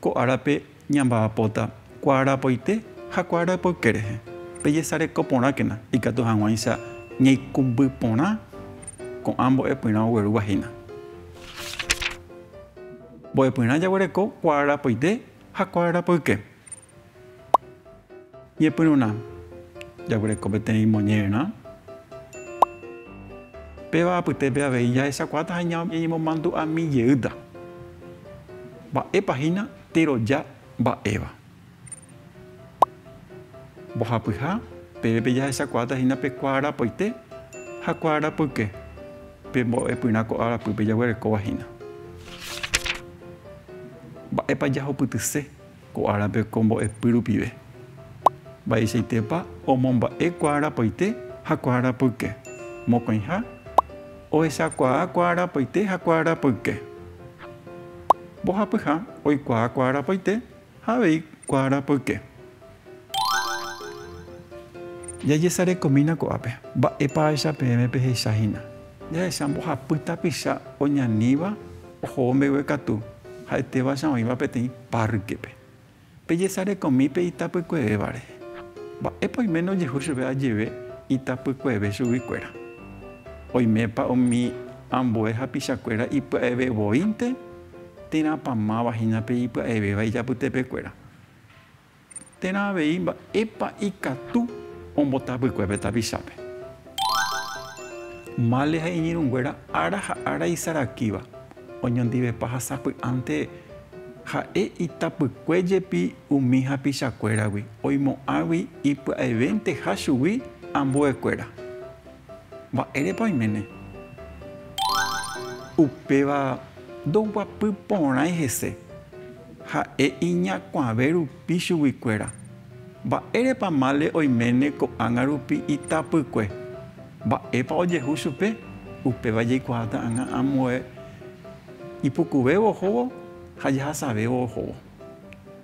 Ko árape ñamba'apóta kuaarapoite ha kuaarapoyke rehe. Pejesareko porãkena ikatu hag̃uáicha ñaikumby porã ko'ã mbo'epyrã oguerúva hína. Mbo'epyrã jaguereko kuaarapoite ha kuaarapoyke. Ñepyrũrã. Jaguereko peteĩ imonñerã. Péva apytépe avei jahechakuaáta ha ñañemomandu'ami jeýta. Mba'épa hína teroja mba'éva? Mbohapyha, pépe jahechakuaáta hína pe kuaarapoite ha kuaarapoyke, pe mbo'epyrã ko'ã arapýpe jaguerekóva hína. Mba'épa jahupytyse Ko árape ko mbo'epy rupive. Mba'eichaitépa omomba'e kuaarapaite ha kuaarapoyke. Mokõiha, ohechakuaa kuaarapaite ha kuaarapoyke. Mbohapyha, oikuaa kuaarapaite ha avei kuaarapoyke. Jajesarekomína ko'ápe. Mba'épa ahecha peẽme pehecha hína. Jahecha mbohapy tapicha oñaníva. Ohóvo mbegue katu, ha'etéva cha oĩva peteĩ párrkepe. Pejesarekomi pe itapykuevévare. Mba'épa oiméne ojehu chupe ajeve itapykueve chuguikuéra? Oimépa umi ambue hapichakuéra ipya'eve voínte? Térãpa máva hína pe ipya'evéva ijapytepekuéra? Térã avei mba'épa ikatu ombota vykue pe tapichápe. Male ha iñirũnguéra ára ha ára isarakíva, oñondivepa ha sapy'ánte ha'e itapykue jepi umi hapichakuéragui, oimo'ãgui ipya'evénteha chugui ambuekuéra. Mba'érepa oiméne? Upéva ndoguapy porãi hese. Ha'e iñakuãve rupi chuguikuéra, Mba'érepa mále oiméne ko'ág̃a rupi itapykue? Mba'épa ojehu chupe? Upéva jaikuaa ta'ãgã ambue ipukuvévo ohóvo ha jahasavévo ohóvo.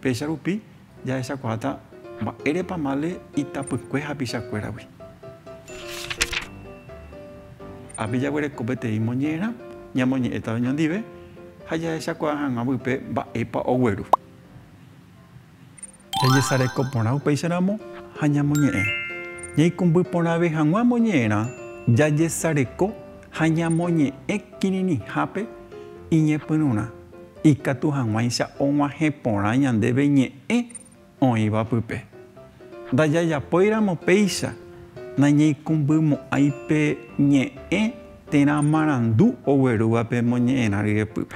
Péicha rupi Jahechakuaáta mba'érepa male itapykue hapichakuéragui. Ápe jaguereko peteĩ moñe'ẽrã, ñamoñe'ẽta oñondive ha jahechakuaa hag̃ua vype mba'épa ogueru. Jajesareko porã upéicharamo ha ñamoñe'ẽ. Ñaikũmby porãve hag̃ua moñe'ẽrã, jajesareko ha ñamoñe'ẽ kirirĩhápe iñepyrũrã. Ikatu hag̃uáicha og̃uahẽ porã ñandéve ñe'ẽ oĩva pype. Ndajajapóiramo péicha, nañaikũmbymo'ãi pe ñe'ẽ térã marandu oguerúva pe moñe'ẽrã ryepýpe.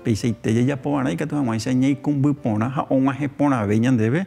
Peichaite jajapovarã ikatu hag̃uáicha ñaikũmby porã ha og̃uahẽ porãve ñandéve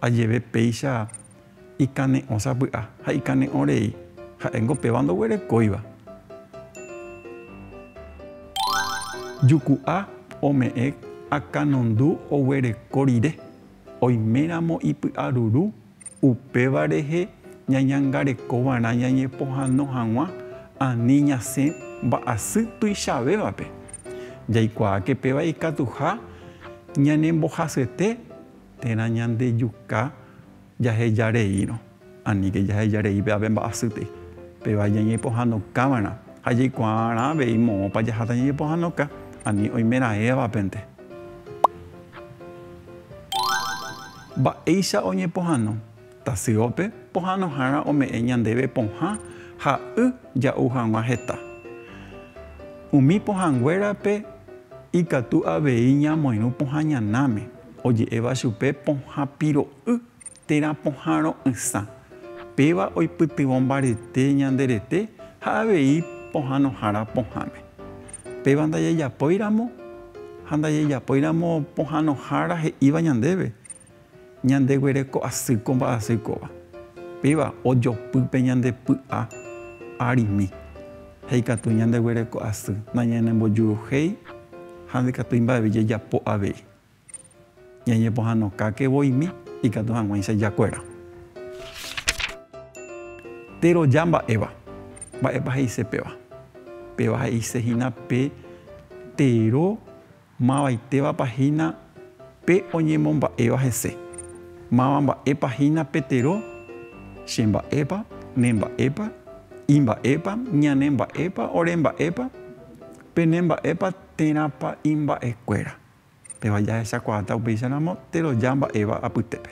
Ha jeve péicha ikane'õ sapy'a ha ikane'õ rei, ha'éngo péva ndoguerekóiva. Juku'a ome'ẽ akanondu oguereko rire, oiméramo ipy'aruru, upéva rehe ñañangareko va'erã ñañepohano hag̃ua ani ñasẽ mba'asy tuichavévape. Jaikuaáke péva ikatuha ñanembohasyete térã ñandejuka jaheja reírõ, aníke jaheja rei pévape mba'asýtei. Péva jañepohãnokáva'erã ha jaikuaarã avei moõpa jaháta ñañepohãnoka ani oimeraẽvapente. Mba'éicha oñepohãno Tasyópe pohãnohára ome'ẽ ñandéve pohã ha y ja'u hag̃ua heta. Umi pohãnguérape ikatu avei ñamoirũ pohã ñanáme, oje'éva chupe pohã piro'y térã pohã ro'ysã. Péva oipytyvõ mbarete ñande rete ha avei pohãnohára pohãme. Péva ndajajapóiramo ha ndajajapóiramo pohãnohára he'íva ñandéve, Ñandeguereko asy ko mba'asy kóva. Péva ojopy pe ñande py'a arimi. Ha ikatu ñandeguereko asy nañanembojuruhéi ha ndikatúi mba'eve jajapo avei. Ñañepohãnokáke voimi ikatu hag̃uáicha jakuera. Péro ja mba'éva, mba'épa he'ise péva? Péva he'ise hína pe tero. Mavaitévapa hína pe oñemomba'éva hese? Máva mba'épa hína pe tero? Che mba'épa? Ne mba'épa? I mba'épa? Ñane mba'épa? Ore mba'épa? Pene mba'épa? Térãpa imba'ekuéra? Péva jahechakuaáta upéicharamo teroja mba'éva apytépe.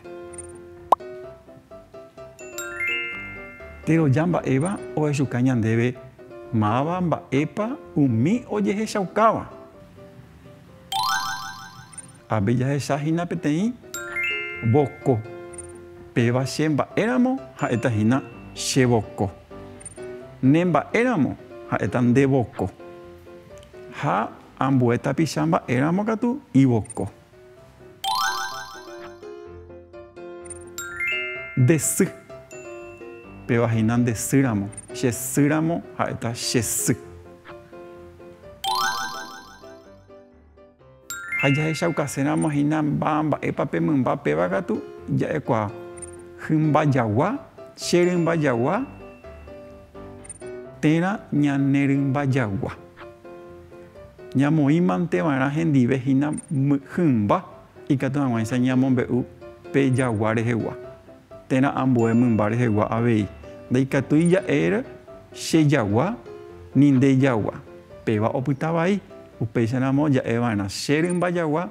Teroja mba'éva ohechuka ñandéve máva mba'épa umi ojehechaukáva. Avei jahecha hína peteĩ voko. Péva che mba'éramo ha'éta hína che voko. Ne mba'éramo ha'éta nde voko. Ha ambue tapicha mba'éramo katu ivoko. Nde sy. Péva hína nde sýramo. Che sýramo ha'éta che sy. Ha jahechaukaséramo hína mba mba'épa pe mymba péva katu ja'ekuaa. Hymba jagua, che rymba jagua. Térã ñane rymba jagua. Ñamoĩmanteva'erã hendive hína hymba ikatu hag̃uáicha ñamombe'u pe jagua rehegua. Térã ambue mymba rehegua avei, ndaikatúi ja'ér che jagua ni nde jagua, péva opyta vai, upéicharamo ja'eva'erã che rymba jagua.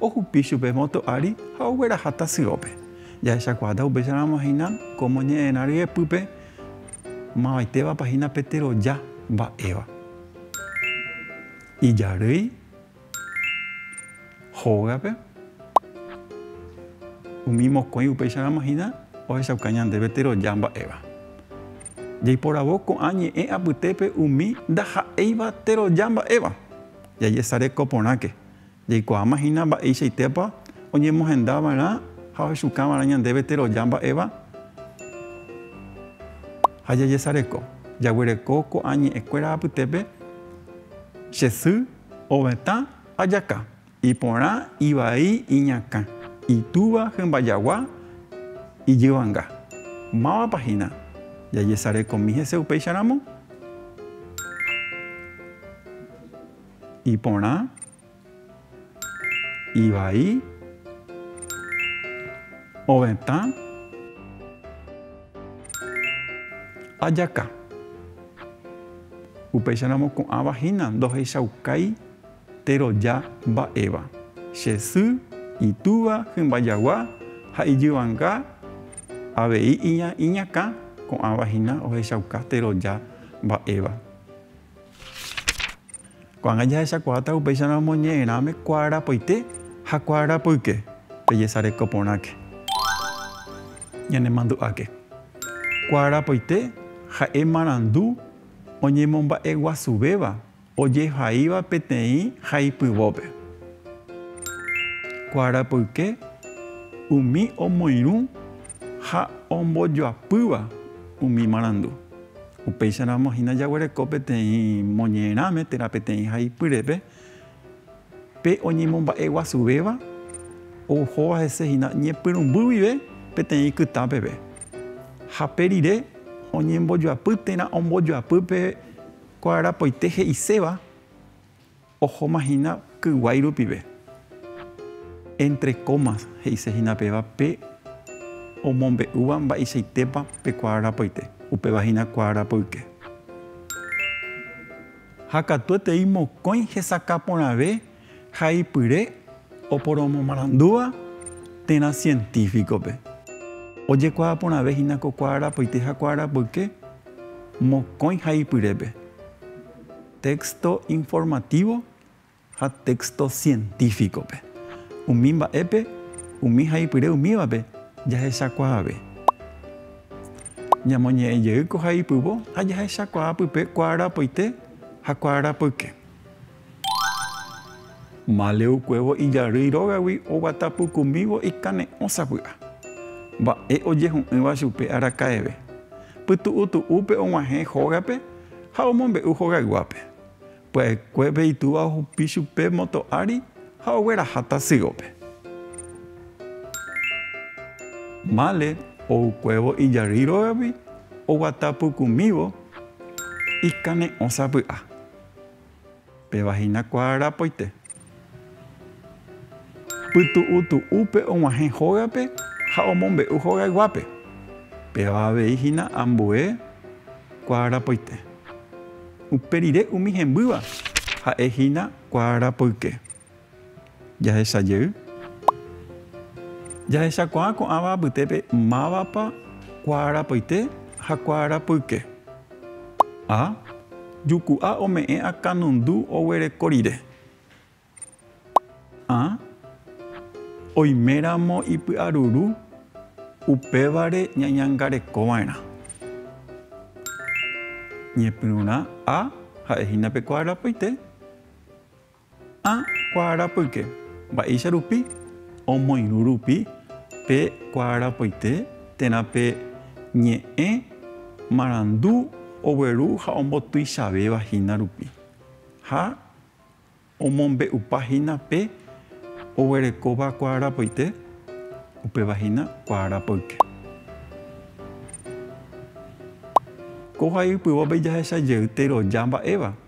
Ohupi chupe moto ári ha ogueraha tasyópe. Jahechakuaáta upéicharamo hína ko moñe'ẽrã ryepýpe mavaitévapa hína pe teroja mba'éva. Ijarýi hógape umi mokõi upéicharamo hína ohechauka ñandéve teroja mba'éva. Jaiporavo ko'ã ñe'ẽ apytépe umi ndaha'éiva teroja mba'éva. Jajesareko porãke Jaikuaáma hína mba'eichaitépa oñemohenda va'erã ha ohechuka va'erã ñandéve teroja mba'éva ha jajesareko. Jaguereko ko'ã ñe'ẽ kuéra apytépe, Che sy, ovetã, ajaka, iporã, ivai, iñakã, itúva, hymba jagua, ijyvanga. Mávapa hína jajesarekomi hese upéicharamo? Iporã. Ivai. Ovetã. Ajaka. Upéicha ramo ko'ãva hína ndohechaukái teroja mba'éva, che sy, itúva, hymba jagua ha ijyvanga avei iñakã ko'ãva hína ohechauka teroja mba'éva. Ko'ág̃a jahechakuaáta upéicharõ omoñe'ẽrãme kuaarapoite ha kuaarapoyke. Pejesareko porãke. Ñanemandu'áke. Kuaarapoite ha'e marandu oñemomba'eguasuvéva ojehaíva peteĩ haipyvópe. Kuaarapoyke umi omoirũ ha ombojoapýva umi marandu. Upéicharamo hína jaguereko peteĩ moñe'ẽrãme térã peteĩ haipyrepe, pe oñemomba'e guasuvéva ohóva hese hína ñepyrũmby guive peteĩ kytã peve. Ha pe rire oñembojoapy térã ombojoapy pe kuarapoite he'iséva. Ohóma hína kyguái rupive. Entre comas he'ise hína péva pe omombe'úva mba'eichaitépa pe kuaa rapoite, upéva hína kuaa rapoyke. Ha katuetei mokõi hesakã porãve ha ipyre oporomomarandúva térã científico-pe. Ojekuaa porãve hína ko kuaa rapoite ha kuaa rapoyke mokõi ha ipyrépe. Texto informativo ha texto científico-pe. Umi mba'épe, umi haipyre umívape jahechakuaave. Ñamoñe'ẽ jey ko haipyvo ha jahechakuaa pype kuaarapoite ha kuaarapoyke. Maleukuévo ijarýi rógagui oguata pukumívo ikane'õ sapy'a. Mba'e ojehu'ỹva chupe araka'eve. Pytu'utu'úpe og̃uahẽ hógape Ha omombe'u hogayguápe. Pya'ekuépe itúva ohupi chupe moto ári ha ogueraha tasýope. Mále oukuévo ijary rógagui oguata pukumívo ikane'õ sapy'a. Péva hína kuaa rapoite. Pytu'u tu'úpe og̃uahẽ hógape ha omombe'u hogayguápe. Péva avei hína ambue kuaa rapoite. Upe rire umi hembýva ha'e hína kuaa rapoyke. Jahecha jey, jahechakuaa ko'ãva apytépe mávapa kuaarapoite ha kuaarapoyke. A. Juku'a ome'ẽ akãnundu oguereko rire. A. Oiméramo ipy'aruru, upévare ñañangarekova'erã. Ñepyrũrã A ha'ehína pe kuaarapoite. Ha kuaarapyke, mba'éicha rupi omoirũ rupi pe kuaarapoite térã pe ñe'ẽ marandu ogueru ha ombotuichavéva hína rupi, ha omombe'upa hína pe oguerekóva kuaarapoite, upéva hína kuaarapyke. Ko ha'e ypyvópe jahechajey teroja mba'éva.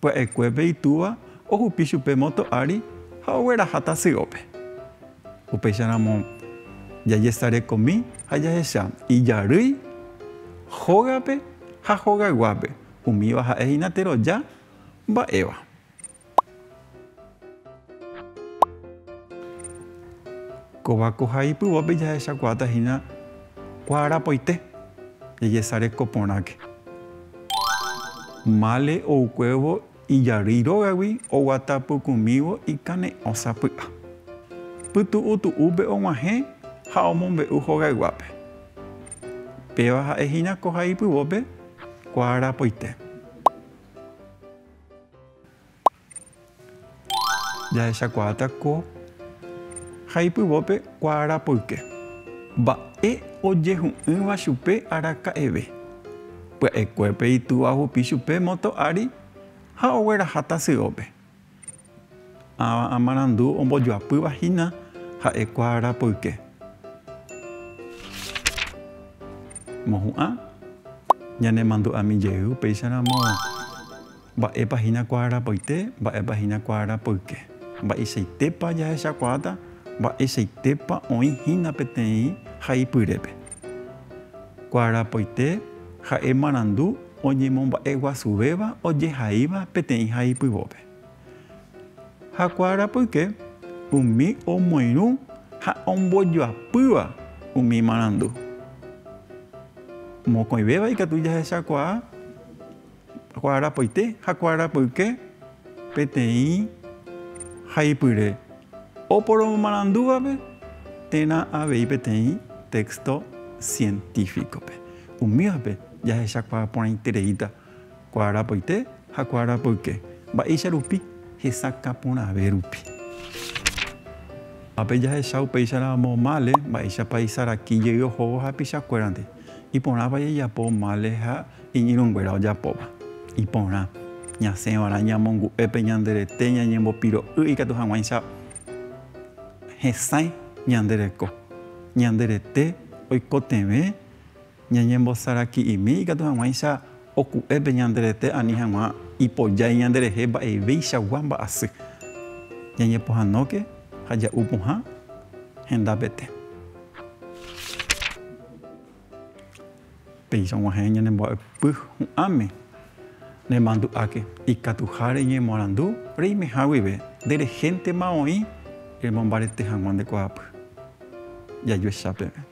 Pya'ekuépe itúva ohupi chupe moto ári ha ogueraha tasyópe. Upéicharamo jajesarekomi ha jahecha ijarýi hógape ha hogayguápe, umíva ha'e hína teroja mba'éva. Kóva ko ha ipyvópe jahechakuaáta hína kuaarapoite jajesareko porãke. Mále oukuévo ijarýi rógagui oguata pukũmívo ikane'õ sapy'a. Pytu'u tu'úpe og̃uahẽ ha omombe'u hogayguápe. Péva ha'e hína ko ha ipyvópe kuaarapoite. Jahechakuaáta ko ha ipyvópe kuaarapoyke. Mba'e ojehu'ỹva chupe araka'eve. Pya'ekuépe itúva ohupi chupe moto ári ha ogueraha tasyópe. Ãva amarandu ombojoapýva hína ha'e kuaarapoyke. Mohu'ã ñanemandu'ami jey upéicharamo. Mba'épa hína kuaarapoite, mba'épa hína kuaarapoyke? Mba'eichaitépa jahechakuaáta, mba'eichaitépa oĩ hína peteĩ haipyrépe? Kuaarapoite ha'e marandu oñemomba'eguasuvéva ojehaíva peteĩ haipyvópe. Ha kuaarapoyke umi omoirũ ha ombojoapýva umi marandu. Mokõivéva ikatu jahechakuaa. Kuaarapoite ha kuaarapyke peteĩ haipyre oporomomarandúvape térã avei peteĩ téxto sientífikope. Umívape jahechakuaa porãitereíta kuaarapoite ha kuaarapyke mba'éicha rupi hesakã porãve rupi. Ápe jahecha upéicharamo mále mba'éichapa isaraki jey ohóvo hapichakuérandi. Iporãpa jajapo mále ha iñirũnguéra ojapóva. Iporã, ñasẽva'erã ñamongu'e pe ñande rete ñañembopiro'y ikatu hag̃uáicha hesãi ñande reko. Ñande rete oikotevẽ ñañembosaraki'imi ikatu hag̃uáicha Oku'e pe ñande rete ani hag̃ua ipojái ñande rehe mba'evéichagua mba'asy. Ñañepohãnóke ha ja'u pohã hendapete. Péicha og̃uahẽ ñanembo'aypy hu'ãme, nemandu'áke ikatuha reñemoarandu reimeha guive nde rehéntema oĩ remombarete hag̃ua nde kuaapy. Jajuecha peve.